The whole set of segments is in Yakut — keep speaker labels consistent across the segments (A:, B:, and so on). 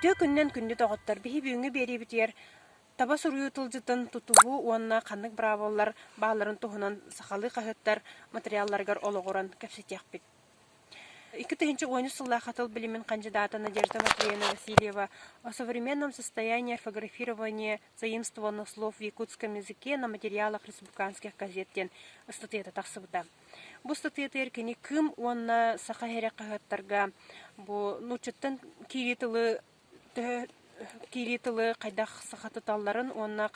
A: Үтүө күннэн күндү доҕоттор, биһи бүгүҥҥү биэриибитигэр таба суруйуу тылдьытын тутуһуу уонна ханнык быраабылалар баалларын туһунан сахалыы хаһыаттар матырыйаалларыгар олоҕуран кэпсэтиэхпит. Икки тыһыынча уончус сыллаах Хотел билимин хандьыдаата Надежда Матвеевна Васильева «О современном состоянии орфографирования заимствованных слов в якутском языке на материалах республиканских газет» диэн ыстатыйата тахсыбыта. Бу ыстатыйатыгар кини Кым уонна Саха иһирэ хаһыаттарга бу нууччаттан киирии тылы төһө киирии тылы хайдах саха туталларын уонна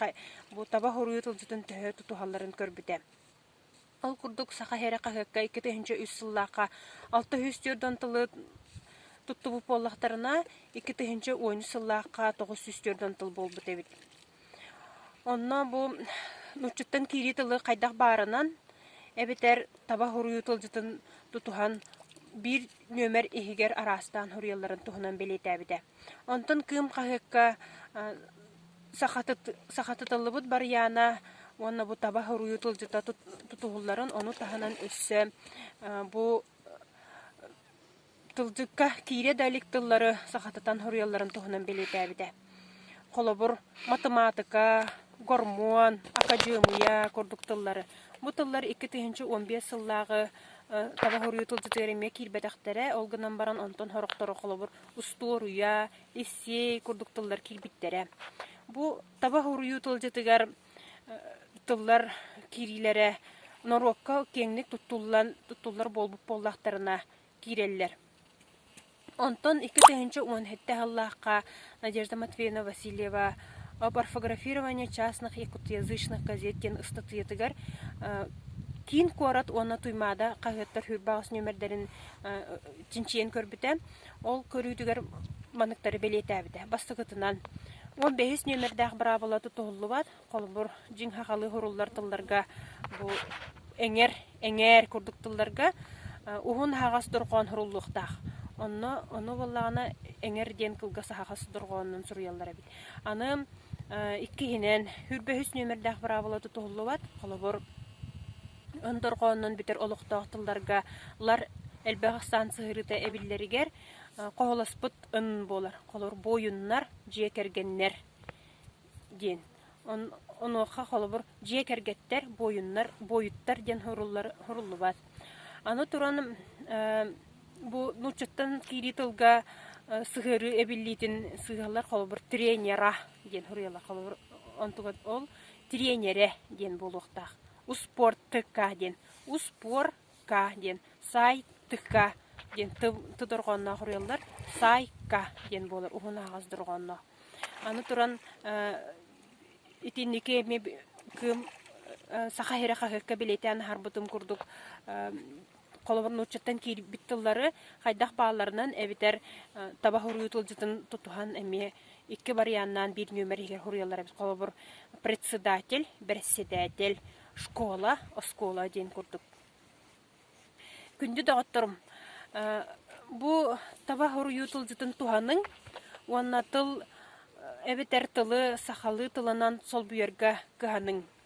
A: бу таба хоруйу тылдьытын төһө тутуһалларын көрбүтэ. Ол курдук Саха сирэ хаһыакка икки тыһыынча үс сыллаахха алта сүүс түөрт уон тылы туттубут буоллахтарына, икки тыһыынча он үс сыллаахха тоҕус сүүс түөрт уон тыл буолбут эбит. Онно бу нууччуттан киирии тылы хайдах баарынан эбэтэр таба хоруйу тылдьытын тутуһан биир нүөмэр иһигэр араастаан хоруйалларын туһунан бэлиэтээбитэ. Онтон Кыым хаһыакка сахатыт сахатытыллыбыт барыйаана уонна бу таба хоруйу тылдьыта тутуһулларын ону таһынан өссө бу тылдьыкка киирэ да илик тыллары сахатытан хоруйалларын туһунан бэлиэтээбитэ. Холобур, матымаатыка, гормон, акадьыамыйа курдук тыллары. Бу тыллар икки тыһыынча уон биэс сыллааҕы таба хоруйу тылдьытыгар эмиэ киирбэтэхтэрэ, ол гынан баран онтон сорохтору холобур устуоруйа, иссиэй курдук тыллар киирбиттэрэ. Бу таба уруйуу тылдьытыгар тыллар киириилэрэ норуокка киэҥник туттуллан туттуллар буолбут буоллахтарына киирэллэр. Онтон икки тыһыынча уон сэттэ сыллаахха Надежда Матвеевна Васильева «Парфографирование частных якутоязычных газет» диэн ыстатыйатыгар киин куорат уонна Туймаада хаһыаттар сүрбэҕэс нүөмэрдэрин чинчийэн көрбүтэ. Ол көрүүтүгэр маныктары бэлиэтээбитэ. Бастакытынан, он бэһис нүөмэрдээх быраабыла тутуһуллубат. Холобур, дьиҥ хахалы хуруллар тылларга бу эҥэр, эҥээр курдук тылларга уһун аһаҕас дорҕоон хуруллуохтаах. Онно ону буоллаҕына эҥэр диэн кылгас аһаҕас дорҕоонунан суруйаллар эбит. Аны иккиһинэн, үр бэһис нүөмэрдээх быраабыла тутуһуллубат. Холобур, Өндөрҕөөннөн бүтэр олохтоох тылларга ылар элбэх ыксаан сыһыарыыта эбиллэригэр хоһолоспут ын буолар. Холор буойуннар, дьиэ кэргэннэр диэн. Онуоха холобур дьиэ кэргэттэр, буойуннар, буойуттар диэн суруллубат. Аны туран бу нууччаттан киирии тылга сыһыарыы эбиллиитин сыыһалар холобур тренера диэн суруйаллар. Холобур онтугар ол тренерэ диэн буолуохтаах. успуортка диэн успуорка диэн саайтка диэн тодорҕоонноох уруйаллар саайка диэн буолар уһун аһаҕас дорҕоонноох аны туран итинники эми кыым саха иһирэ хаһыакка билиэтээн аһарбытым курдук холобур нууччаттан киирбит тыллары хайдах баалларынан эбэтэр таба хуруйуу тылдьытын тутуһан эмиэ икки варианнаан биир нүөмэр иһигэр хуруйаллар эбит холобур председатель бэрэссэдээтэл школа оскуола диэн курдук күндү доҕотторум бу таба хуруйуу тылдьытын туһаныҥ уонна тыл эбэтэр тылы сахалыы тылынан солбуйарга кыһаныҥ